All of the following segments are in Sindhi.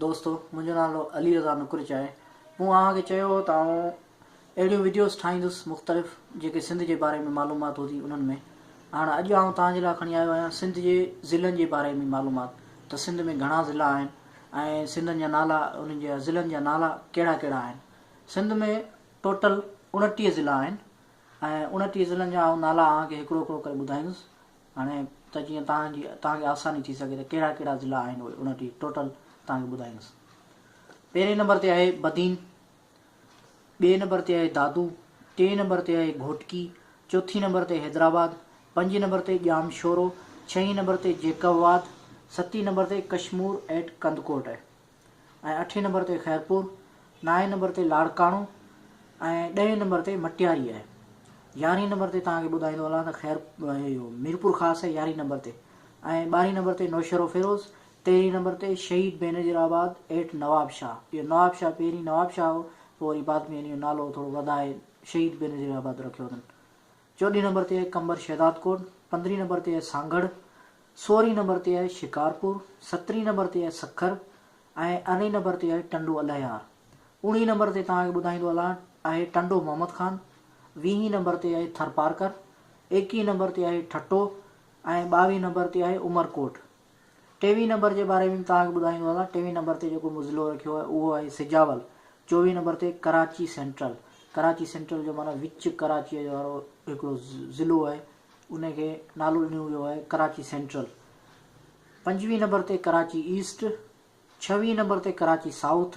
دوستو منهنجو نالو علي رضا نقرچ آهي مون اوهان کي چيو هو ته آئون اهڙيون وڊيوز ٺاهيندس مختلف جيڪي سنڌ جي باري ۾ معلومات هوندي انهن ۾ هاڻ اڄ آئون توهان جي لاء کڻي آيو آهيان سنڌ جي ضلعن جي باري ۾ معلومات ته سنڌ ۾ گهڻا ضلعا آهن ۽ سنڌن جا نالا انهن جي ضلعن جا نالا ڪهڙا ڪهڙا آهن سنڌ ۾ ٽوٽل اڻٽيهه ضلعا آهن ۽ اڻٽيهه ضلعن جا آئون نالا اوهان کي هڪڙو هڪڙو ڪري ٻڌائيندس هاڻي ته جيئن توهان جي توهان کي آساني ٿي سگهي ته ڪهڙا ڪهڙا ضلعا آهن اهي ان جي ٽوٽل توهان کي ٻڌائيندس. پهرين نمبر تي آهي بدين، ٻئي نمبر تي آهي دادو، ٽئين نمبر تي آهي گهوٽڪي، چوٿين نمبر تي حيدرآباد، پنجين نمبر تي ڄام شورو، ڇهين نمبر تي جيڪب آباد، ستين نمبر تي ڪشمور ايٽ ڪنڌڪوٽ آهي. ۽ اٺين نمبر تي خيرپور، نائين نمبر تي لاڙڪاڻو ۽ ڏهين نمبر تي مٽياري آهي. يارهين نمبر تي توهان کي ٻڌائيندو هلان ته خير اهو ميرپورخاص آهي يارهين نمبر تي ۽ ٻارهين نمبر تي نوشهروفيروز، تيرهين نمبر تي شهيد بينظير آباد ايٽ نوابشاهه، اهو نوابشاهه پهرين نوابشاهه هو پوء وري بعد ۾ ان جو نالو ٿورو وڌائي شهيد بينظير آباد رکيو اٿن. چوڏهين نمبر تي آهي قمبر شهدادڪوٽ، پندرهين نمبر تي آهي سانگهڙ، سورهين نمبر تي آهي شڪارپور، سترهين نمبر تي آهي سکر ۽ ارڙهين نمبر تي آهي ٽنڊو الهيار. اوڻيهين نمبر تي توهان کي ٻڌائيندو هلان آهي ٽنڊو محمد خان، ويهين نمبر تي آهي ٿرپارڪر، ايڪيهين نمبر تي آهي ٺٽو ۽ ٻاويهين نمبر تي آهي عمرڪوٽ. ٽيوي نمبر جي باري ۾ به توهان کي ٻڌائيندو هلان ٽيوي نمبر تي جيڪو مظلو رکيو آهي اهو آهي سجاول چوويهه نمبر تي ڪراچي سينٽرل ڪراچي سينٽرل جو معنيٰ وچ ڪراچيء جو وارو هڪڙو ضلعو آهي ان کي نالو ڏنو ويو آهي ڪراچي سينٽرل پنجويهه نمبر تي ڪراچي ايسٽ ڇويهين نمبر تي ڪراچي سائوٿ،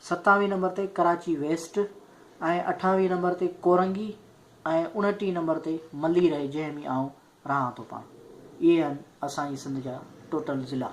ستاويهين نمبر تي ڪراچي ويسٽ ۽ اٺاويهين نمبر تي ڪورنگي ۽ اڻٽيهين نمبر تي ملير آهي جنهن ۾ آئون رهان ٿو پاڻ اهي آهن اسان جي سنڌ جا ٽوٽل ضلعا.